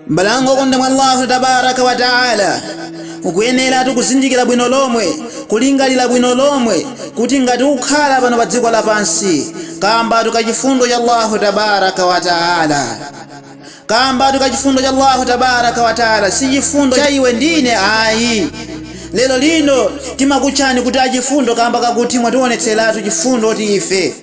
m'bale wanga wokondedwa mwa allahu tabaraka wa taala ukuyeneratu kuzindikira bwino lomwe kulingalira bwino lomwe kuti ngati ukukhala pano pa dziko lapansi kambatu ka chifundo cha allahu tabaraka wa taala Kambatu ka chifundo cha Allahu tabaraka wa taala si chifundo cha iwe ndi ine ayi. Lero lino timakutchani kuti achifundo kamba kakuti mwatiwonetseratu chifundo ti ife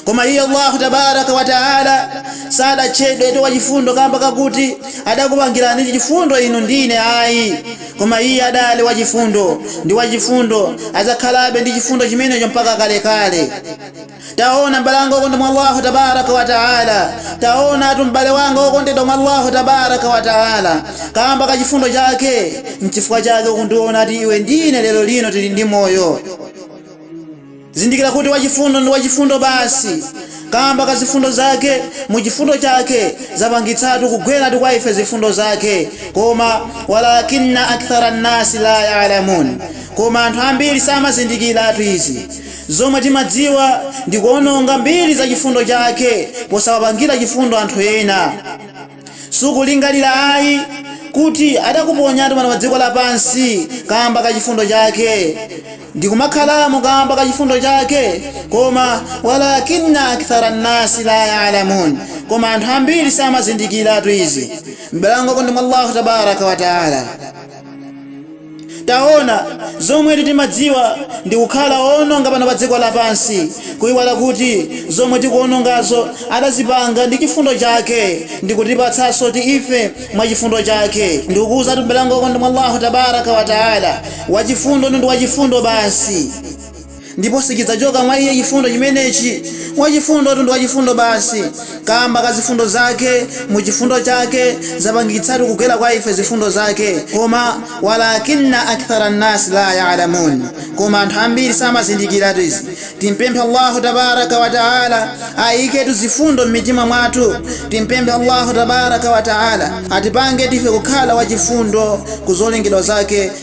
koma iye Allahu tabaraka wa taala sadatchedwetu wachifundo kamba kakuti adakupangirani chifundo inu ndi ine ayi koma iye adali wachifundo ndi wachifundo adzakhalabe ndi chifundo chimenecho mpaka kalekale Taona m'bale wanga wokondedwa mwa Allahu tabaaraka wa ta'ala! Taonatu m'bale wanga wokondedwa mwa Allahu tabaaraka wa ta'ala! Kaamba ka chifundo Chake, n'chifukwa chake ukundiona ti iwe ndi ine lero lino tili ndi moyo. Zindikira kuti wachifundo ndi wachifundo basi. Kaamba ka zifundo Zake, mu chifundo Chake, zapangitsatu kugwera ti kwa ife zifundo Zake. Koma, walaakinna akthara nnaasi laa ya'lamuun. Koma anthu ambiri samazindikiratu izi. Zomwe timadziwa ndi kuononga mbiri za chifundo chake posawapangira chifundo anthu ena. Sukulingalira ayi kuti adakuponyatu pano pa dziko lapansi kaamba ka chifundo chake, ndi kumakhalamo kaamba ka chifundo chake, koma walaakinna akthara nnasi laa ya'lamuun, koma anthu ambiri samazindikiratu izi. M'bale wanga wokondedwa mwa Allahu Tabaaraka wa Ta'ala. Taona, zomwetu timadziwa ndi kukhala oononga pano pa dziko lapansi, kuiwala kuti zomwe tikuonongazo adazipanga ndi chifundo chake ndikutipatsanso ti ife mwa chifundo chake. Ndikukuuzatu m'bale wanga wokondedwa mwa Allahu Tabaaraka wa Taala, Wachifundo ndi Wachifundo basi. ndipo sichidzachoka mwa Iye chifundo chimenechi. Wachifundotu ndi wachifundo basi, kaamba ka zifundo zake, mu chifundo chake, zapangitsatu kugwera kwa ife zifundo zake. Koma, Walaakinna akthara nnaasi laa ya'lamuun. Koma anthu ambiri samazindikiratu izi. Timpemphe Allahu tabaaraka wa ta'aala ayiketu zifundo mmitima mwathu. Timpemphe Allahu tabaaraka wa ta'aala atipangetu ife kukhala wachifundo ku zolengedwa zake.